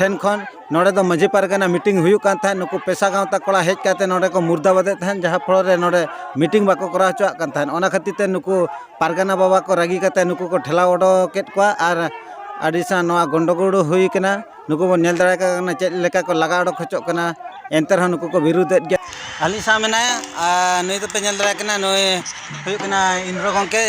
ᱴᱷᱮᱱ ᱠᱷᱚᱱ ᱱᱚᱰᱮ ᱫᱚ ᱢᱟᱹᱡᱷᱤ ᱯᱟᱨᱜᱟᱱᱟ ᱢᱤᱴᱤᱝ ᱦᱩᱭᱩᱜ ᱠᱟᱱ ᱛᱟᱦᱮᱸᱫ ᱱᱩᱠᱩ ᱯᱮᱥᱟ ᱜᱟᱶᱛᱟ ᱠᱚᱲᱟ ᱦᱮᱡ ᱠᱟᱛᱮ ᱱᱚᱰᱮ ᱠᱚ ᱢᱩᱨᱫᱟᱵᱟᱫᱮᱫ ᱛᱟᱦᱮᱸᱫ ᱡᱟᱦᱟᱸ ᱯᱷᱚᱞᱚ ᱨᱮ ᱱᱚᱰᱮ ᱢᱤᱴᱤᱝ ᱵᱟᱠᱚ ᱠᱚᱨᱟᱣ ᱦᱚᱪᱚᱣᱟᱜ ᱠᱟᱱ ᱛᱟᱦᱮᱸᱫ ᱚᱱᱟ ᱠᱷᱟᱹᱛᱤᱨ ᱛᱮ ᱱᱩᱠᱩ ᱯᱟᱨᱜᱟᱱᱟ ᱵᱟᱵᱟ ᱠᱚ ᱨᱟᱹᱜᱤ ᱠᱟᱛᱮ ᱱᱩᱠᱩ ᱠᱚ ᱴᱷᱮᱞᱟᱣ ᱚᱰᱚᱠ ᱠᱮᱫ ᱠᱚᱣᱟ ᱟᱨ ᱟᱹᱰᱤ ᱥᱟᱝ ᱱᱚᱣᱟ ᱜᱚᱱᱰᱚᱜᱳᱲ ᱦᱩᱭ ᱠᱟᱱᱟ ᱱᱩᱠᱩ ᱵᱚᱱ ᱧᱮᱞ ᱫᱟᱲᱮ ᱟᱠᱚ ᱠᱟᱱᱟ ᱪᱮᱫ ᱞᱮᱠᱟ ᱠᱚ ᱞᱟᱜᱟ ᱚᱰᱚᱠ ᱦᱚᱪᱚᱜ ᱠᱟᱱᱟ ᱮᱱᱛᱮ ᱨᱮᱦᱚᱸ ᱱᱩᱠᱩ ᱠᱚ ᱵᱤᱨᱩᱫᱮᱫ ᱜᱮᱭᱟ ᱟᱹᱞᱤᱧ ᱥᱟᱶ ᱢᱮᱱᱟᱭᱟ ᱟᱨ ᱱᱩᱭ ᱫᱚᱯᱮ ᱧᱮᱞ ᱫᱟᱲᱮ ᱠᱟᱱᱟ ᱱᱩᱭ ᱦᱩᱭᱩᱜ ᱠᱟᱱᱟ ᱤᱱᱫᱨᱚ ᱜᱚᱢᱠᱮ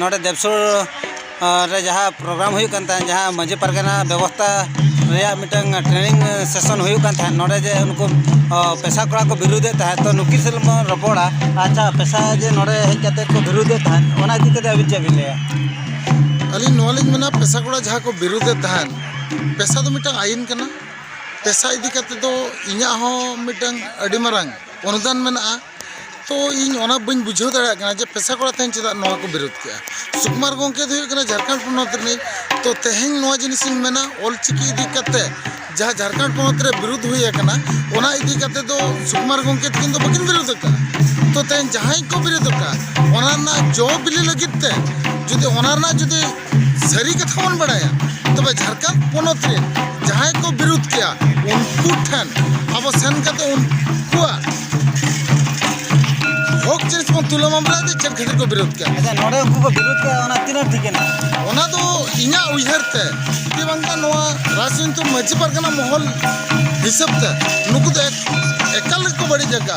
ᱱᱚᱰᱮ ᱫᱮᱵᱽᱥᱩᱨ ᱨᱮ ᱡᱟᱦᱟᱸ ᱯᱨᱳᱜᱨᱟᱢ ᱦᱩᱭᱩᱜ ᱠᱟᱱ ᱛᱟᱦᱮᱸᱫ ᱡᱟᱦᱟᱸ ᱢᱟᱹᱡᱷᱤ ᱯᱟᱨᱜᱟᱱᱟ ᱵᱮᱵᱚᱥᱛᱷᱟ ᱨᱮᱭᱟᱜ ᱢᱤᱫᱴᱟᱹᱝ ᱴᱨᱮᱱᱤᱝ ᱥᱮᱥᱚᱱ ᱦᱩᱭᱩᱜ ᱠᱟᱱ ᱛᱟᱦᱮᱸᱫ ᱱᱚᱰᱮ ᱡᱮ ᱩᱱᱠᱩ ᱯᱮᱥᱟ ᱠᱚᱲᱟ ᱠᱚ ᱵᱤᱨᱩᱫᱮᱫ ᱛᱟᱦᱮᱸᱫ ᱛᱚ ᱱᱩᱠᱤᱱ ᱥᱟᱞᱟᱜ ᱵᱚᱱ ᱨᱚᱯᱚᱲᱟ ᱟᱪᱪᱷᱟ ᱯᱮᱥᱟ ᱡᱮ ᱱᱚᱰᱮ ᱦᱮᱡ ᱠᱟᱛᱮᱫ ᱠᱚ ᱵᱤᱨᱩᱫᱮᱫ ᱛᱟᱦᱮᱸᱫ ᱚᱱᱟ ᱤᱫᱤ ᱠᱟᱛᱮᱫ ᱟᱹᱵᱤᱱ ᱪᱮᱫ ᱵᱤᱱ ᱞᱟᱹᱭᱟ ᱟᱹᱞᱤᱧ ᱱᱚᱣᱟ ᱞᱤᱧ ᱢᱮᱱᱟ ᱯᱮᱥᱟ ᱠᱚᱲᱟ ᱡᱟᱦᱟᱸ ᱠᱚ ᱵᱤᱨᱩᱫᱮᱫ ᱛᱟᱦᱮᱸᱫ ᱯᱮᱥᱟ ᱫᱚ ᱢᱤᱫᱴᱟᱹᱝ ᱟᱹᱭᱤᱱ ᱠᱟᱱᱟ ᱯᱮᱥᱟ ᱤᱫᱤ ᱠᱟᱛᱮᱫ ᱫᱚ ᱤᱧᱟᱹᱜ ᱦᱚᱸ ᱢᱤᱫᱴᱟᱹᱝ ᱟᱹᱰᱤ ᱢᱟᱨᱟᱝ ᱚᱱᱩᱫᱟᱱ ᱢᱮᱱᱟᱜᱼᱟ ᱛᱚ ᱤᱧ ᱚᱱᱟ ᱵᱟᱹᱧ ᱵᱩᱡᱷᱟᱹᱣ ᱫᱟᱲᱮᱭᱟᱜ ᱠᱟᱱᱟ ᱡᱮ ᱯᱮᱥᱟ ᱠᱚᱲᱟ ᱛᱮᱦᱮᱧ ᱪᱮᱫᱟᱜ ᱱᱚᱣᱟ ᱠᱚ ᱵᱤᱨᱳᱫ ᱠᱮᱜᱼᱟ ᱥᱩᱠᱩᱢᱟᱨ ᱜᱚᱢᱠᱮ ᱫᱚ ᱦᱩᱭᱩᱜ ᱠᱟᱱᱟ ᱡᱷᱟᱲᱠᱷᱚᱸᱰ ᱯᱚᱱᱚᱛ ᱨᱤᱱᱤᱡ ᱛᱚ ᱛᱮᱦᱮᱧ ᱱᱚᱣᱟ ᱡᱤᱱᱤᱥ ᱤᱧ ᱢᱮᱱᱟ ᱚᱞ ᱪᱤᱠᱤ ᱤᱫᱤ ᱠᱟᱛᱮ ᱡᱟᱦᱟᱸ ᱡᱷᱟᱲᱠᱷᱚᱸᱰ ᱯᱚᱱᱚᱛ ᱨᱮ ᱵᱤᱨᱳᱫ ᱦᱩᱭ ᱟᱠᱟᱱᱟ ᱚᱱᱟ ᱤᱫᱤ ᱠᱟᱛᱮ ᱫᱚ ᱥᱩᱠᱩᱢᱟᱨ ᱜᱚᱢᱠᱮ ᱛᱤᱠᱤᱱ ᱫᱚ ᱵᱟᱹᱠᱤᱱ ᱵᱤᱨᱳᱫ ᱟᱠᱟᱫᱼᱟ ᱛᱚ ᱛᱮᱦᱮᱧ ᱡᱟᱦᱟᱸᱭ ᱠᱚ ᱵᱤᱨᱳᱫ ᱟᱠᱟᱫᱼᱟ ᱚᱱᱟ ᱨᱮᱱᱟᱜ ᱡᱚ ᱵᱤᱞᱤ ᱞᱟᱹᱜᱤᱫ ᱛᱮ ᱡᱩᱫᱤ ᱚᱱᱟ ᱨᱮᱱᱟᱜ ᱡᱩᱫᱤ ᱥᱟᱹᱨᱤ ᱠᱟᱛᱷᱟ ᱵᱚᱱ ᱵᱟᱲᱟᱭᱟ ᱛᱚᱵᱮ ᱡᱷᱟᱲᱠᱷᱚᱸᱰ ᱯᱚᱱᱚᱛ ᱨᱮ ᱡᱟᱦᱟᱸᱭ ᱠᱚ ᱵᱤᱨᱩᱫᱷ ᱠᱮᱭᱟ ᱩᱱᱠᱩ ᱴᱷᱮᱱ ᱟᱵᱚ ᱥᱮᱱ ᱠᱟᱛᱮ ᱩᱱᱠᱩᱣᱟᱜ ᱦᱚᱠ ᱡᱤᱱᱤᱥ ᱵᱚᱱ ᱛᱩᱞᱟᱹᱣ ᱢᱟᱢᱞᱟ ᱫᱚ ᱪᱮᱫ ᱠᱷᱟᱹᱛᱤᱨ ᱠᱚ ᱵᱤᱨᱩᱫᱷ ᱠᱮᱭᱟ ᱟᱪᱪᱷᱟ ᱱᱚᱰᱮ ᱩᱱᱠᱩ ᱠᱚ ᱵᱤᱨᱩᱫᱷ ᱠᱮᱭᱟ ᱚᱱᱟ ᱛᱤᱱᱟᱹᱜ ᱴᱷᱤᱠ ᱮᱱᱟ ᱚᱱᱟ ᱫᱚ ᱤᱧᱟᱹᱜ ᱩᱭᱦᱟᱹᱨ ᱛᱮ ᱡᱮ ᱵᱟᱝᱠᱷᱟᱱ ᱱᱚᱣᱟ ᱨᱟᱡᱽᱱᱤᱛᱤ ᱢᱟᱹᱡᱷᱤ ᱯᱟᱨᱜᱟᱱᱟ ᱢᱚᱦᱚᱞ ᱦᱤᱥᱟᱹᱵ ᱛᱮ ᱱᱩᱠᱩ ᱫᱚ ᱮᱠᱟᱞ ᱜᱮᱠᱚ ᱵᱟᱹᱲᱤᱡ ᱟᱠᱟᱫᱼᱟ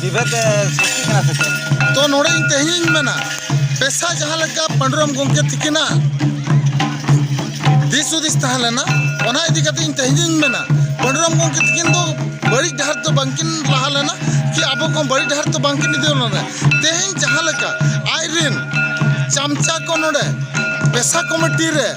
ᱵᱤᱵᱷᱮᱫ ᱥᱨᱤᱥᱴᱤᱜ ᱠᱟᱱᱟ ᱥᱮ ᱪᱮᱫ ᱛᱚ ᱱᱚᱰᱮ ᱤᱧ ᱛᱮᱦᱮᱧᱤᱧ ᱢᱮᱱᱟ ᱯᱮᱥᱟ ᱡᱟᱦᱟᱸ ᱞᱮᱠᱟ ᱯᱟᱺᱰᱩᱨᱟᱢ ᱜᱚᱢᱠᱮ ᱛᱤᱠᱤᱱᱟ ᱫᱤᱥ ᱦᱩᱫᱤᱥ ᱛᱟᱦᱮᱸ ᱞᱮᱱᱟ ᱚᱱᱟ ᱤᱫᱤ ᱠᱟᱛᱮ ᱤᱧ ᱛᱮᱦᱮᱧᱤᱧ ᱢᱮᱱᱟ ᱯᱟᱺᱰᱩᱨᱟᱢ ᱜᱚᱢᱠᱮ ᱛᱤᱠᱤᱱ ᱫᱚ ᱵᱟᱹᱲᱤᱡ ᱰᱟᱦᱟᱨ ᱫᱚ ᱵᱟᱝᱠᱤᱱ ᱞᱟᱦᱟ ᱞᱮᱱᱟ ᱠᱤ ᱟᱵᱚ ᱠᱚ ᱵᱟᱹᱲᱤᱡ ᱰᱟᱦᱟᱨ ᱫᱚ ᱵᱟᱝᱠᱤᱱ ᱤᱫᱤ ᱞᱮᱱᱟ ᱛᱮᱦᱮᱧ ᱡᱟᱦᱟᱸ ᱞᱮᱠᱟ ᱟᱡ ᱨᱮᱱ ᱪᱟᱢᱪᱟ ᱠᱚ ᱱᱚᱰᱮ ᱯᱮᱥᱟ ᱠᱚᱢᱤᱴᱤ ᱨᱮ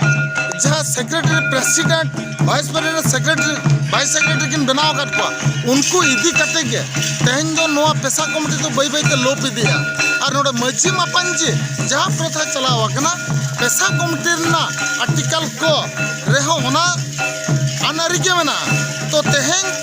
ᱡᱟᱦᱟᱸ secretary president vice president secretary vice secretary ᱠᱤᱱ ᱵᱮᱱᱟᱣ ᱟᱠᱟᱫ ᱠᱚᱣᱟ ᱩᱱᱠᱩ ᱤᱫᱤ ᱠᱟᱛᱮ ᱜᱮ ᱛᱮᱦᱮᱧ ᱫᱚ ᱱᱚᱣᱟ ᱯᱮᱥᱟ ᱠᱚᱢᱤᱴᱤ ᱫᱚ ᱵᱟᱹᱭ ᱵᱟᱹᱭᱛᱮ ᱞᱳᱯ ᱤᱫᱤᱜᱼᱟ ᱟᱨ ᱱᱚᱰᱮ ᱢᱟᱺᱡᱷᱤ ᱢᱟᱯᱟᱧᱡᱤ ᱡᱟᱦᱟᱸ ᱯᱨᱚᱛᱷᱟ ᱪᱟᱞᱟᱣ ᱟᱠᱟᱱᱟ ᱯᱮᱥᱟ ᱠᱚᱢᱤᱴᱤ ᱨᱮᱱᱟᱜ ᱟᱨᱴᱤᱠᱟᱞ ᱠᱚ ᱨᱮᱦᱚᱸ ᱚᱱᱟ ᱟᱹᱱᱼᱟᱹᱨᱤ ᱜᱮ ᱢᱮᱱᱟᱜᱼᱟ ᱛᱚ ᱛᱮᱦᱮᱧ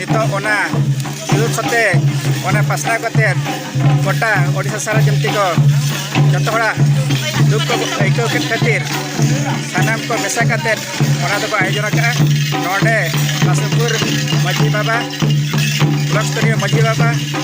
ᱱᱤᱛᱚᱜ ᱚᱱᱟ ᱵᱤᱨᱳᱫ ᱠᱟᱛᱮ ᱚᱱᱟ ᱯᱟᱥᱱᱟᱣ ᱠᱟᱛᱮ ᱜᱚᱴᱟ ᱳᱰᱤᱥᱟ ᱥᱟᱨᱟ ᱡᱚᱢᱛᱤ ᱠᱚ ᱡᱚᱛᱚ ᱦᱚᱲᱟᱜ ᱫᱩᱠ ᱠᱚ ᱟᱹᱭᱠᱟᱹᱣ ᱠᱮᱫ ᱠᱷᱟᱹᱛᱤᱨ ᱥᱟᱱᱟᱢ ᱠᱚ ᱢᱮᱥᱟ ᱠᱟᱛᱮ ᱚᱱᱟ ᱫᱚᱠᱚ ᱟᱭᱳᱡᱚᱱ ᱟᱠᱟᱫᱼᱟ ᱱᱚᱰᱮ ᱠᱟᱥᱤᱢᱯᱩᱨ ᱢᱟᱺᱡᱷᱤ ᱵᱟᱵᱟ ᱵᱞᱚᱠ ᱥᱛᱚᱨᱤᱭᱚ ᱢᱟᱺᱡᱷᱤ ᱵᱟᱵᱟ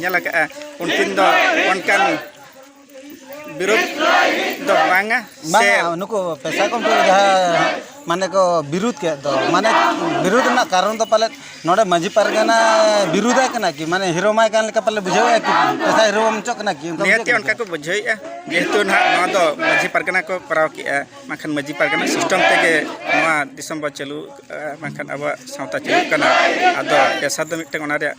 ᱧᱮᱞ ᱟᱠᱟᱫᱼᱟ ᱩᱱᱠᱤᱱ ᱫᱚ ᱚᱱᱠᱟᱱ ᱵᱤᱨᱳᱫ ᱫᱚ ᱵᱟᱝᱟ ᱥᱮ ᱱᱩᱠᱩ ᱯᱮᱥᱟ ᱠᱚ ᱡᱟᱦᱟᱸ ᱢᱟᱱᱮ ᱠᱚ ᱵᱤᱨᱩᱫ ᱠᱮᱫ ᱫᱚ ᱢᱟᱱᱮ ᱵᱤᱨᱩᱫ ᱨᱮᱱᱟᱜ ᱠᱟᱨᱚᱱ ᱫᱚ ᱯᱟᱞᱮᱫ ᱱᱚᱰᱮ ᱢᱟᱺᱡᱷᱤ ᱯᱟᱨᱜᱟᱱᱟ ᱵᱤᱨᱩᱫᱟᱭ ᱠᱟᱱᱟ ᱠᱤ ᱢᱟᱱᱮ ᱦᱤᱨᱳ ᱢᱟᱭ ᱠᱟᱱ ᱞᱮᱠᱟ ᱯᱟᱞᱮ ᱵᱩᱡᱷᱟᱹᱣᱮᱫᱼᱟ ᱠᱤ ᱯᱮᱥᱟ ᱦᱤᱨᱳ ᱵᱟᱢ ᱪᱚᱜ ᱠᱟᱱᱟ ᱠᱤ ᱱᱤᱦᱟᱹᱛ ᱚᱱᱠᱟ ᱠᱚ ᱵᱩᱡᱷᱟᱹᱣᱮᱫᱼᱟ ᱡᱮᱦᱮᱛᱩ ᱱᱟᱦᱟᱜ ᱱᱚᱣᱟ ᱫᱚ ᱢᱟᱺᱡᱷᱤ ᱯᱟᱨᱜᱟᱱᱟ ᱠᱚ ᱠᱚᱨᱟᱣ ᱠᱮᱫᱼᱟ ᱵᱟᱝᱠᱷᱟᱱ ᱢᱟᱺᱡᱷᱤ ᱯᱟᱨᱜᱟᱱᱟ ᱥᱤᱥᱴᱮᱢ ᱛᱮᱜᱮ ᱱᱚᱣᱟ ᱫᱤᱥᱚᱢ ᱵᱚᱱ ᱪᱟᱹᱞᱩ ᱵᱟᱝᱠᱷᱟᱱ ᱟᱵᱚᱣᱟᱜ ᱥᱟᱶᱛᱟ ᱪᱟᱹᱞᱩᱜ ᱠᱟᱱᱟ ᱟᱫᱚ ᱯᱮᱥᱟ ᱫᱚ ᱢᱤᱫᱴᱟᱝ ᱚᱱᱟ ᱨᱮᱭᱟᱜ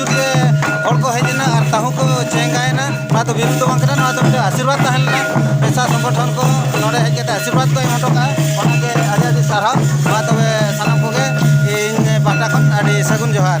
ᱦᱚᱲ ᱠᱚ ᱦᱮᱡ ᱮᱱᱟ ᱟᱨ ᱛᱟᱹᱦᱩ ᱠᱚ ᱪᱮᱸᱜᱟᱭᱮᱱᱟ ᱱᱚᱣᱟ ᱫᱚ ᱵᱤᱨᱩᱫᱽ ᱫᱚ ᱵᱟᱝ ᱠᱟᱱᱟ ᱱᱚᱣᱟ ᱫᱚ ᱢᱤᱫᱴᱮᱱ ᱟᱥᱤᱨᱵᱟᱫᱽ ᱛᱟᱦᱮᱸ ᱞᱮᱱᱟ ᱯᱮᱥᱟ ᱥᱚᱝᱜᱚᱴᱷᱚᱱ ᱠᱚ ᱱᱚᱰᱮ ᱦᱮᱡ ᱠᱟᱛᱮ ᱟᱥᱤᱨᱵᱟᱫᱽ ᱠᱚ ᱮᱢ ᱦᱚᱴᱚ ᱠᱟᱜᱼᱟ ᱚᱱᱟᱜᱮ ᱟᱹᱰᱤ ᱟᱹᱰᱤ ᱥᱟᱨᱦᱟᱣ ᱢᱟ ᱛᱚᱵᱮ ᱥᱟᱱᱟᱢ ᱠᱚᱜᱮ ᱤᱧ ᱯᱟᱦᱴᱟ ᱠᱷᱚᱱ ᱟᱹᱰᱤ ᱥᱟᱹᱜᱩᱱ ᱡᱚᱦᱟᱨ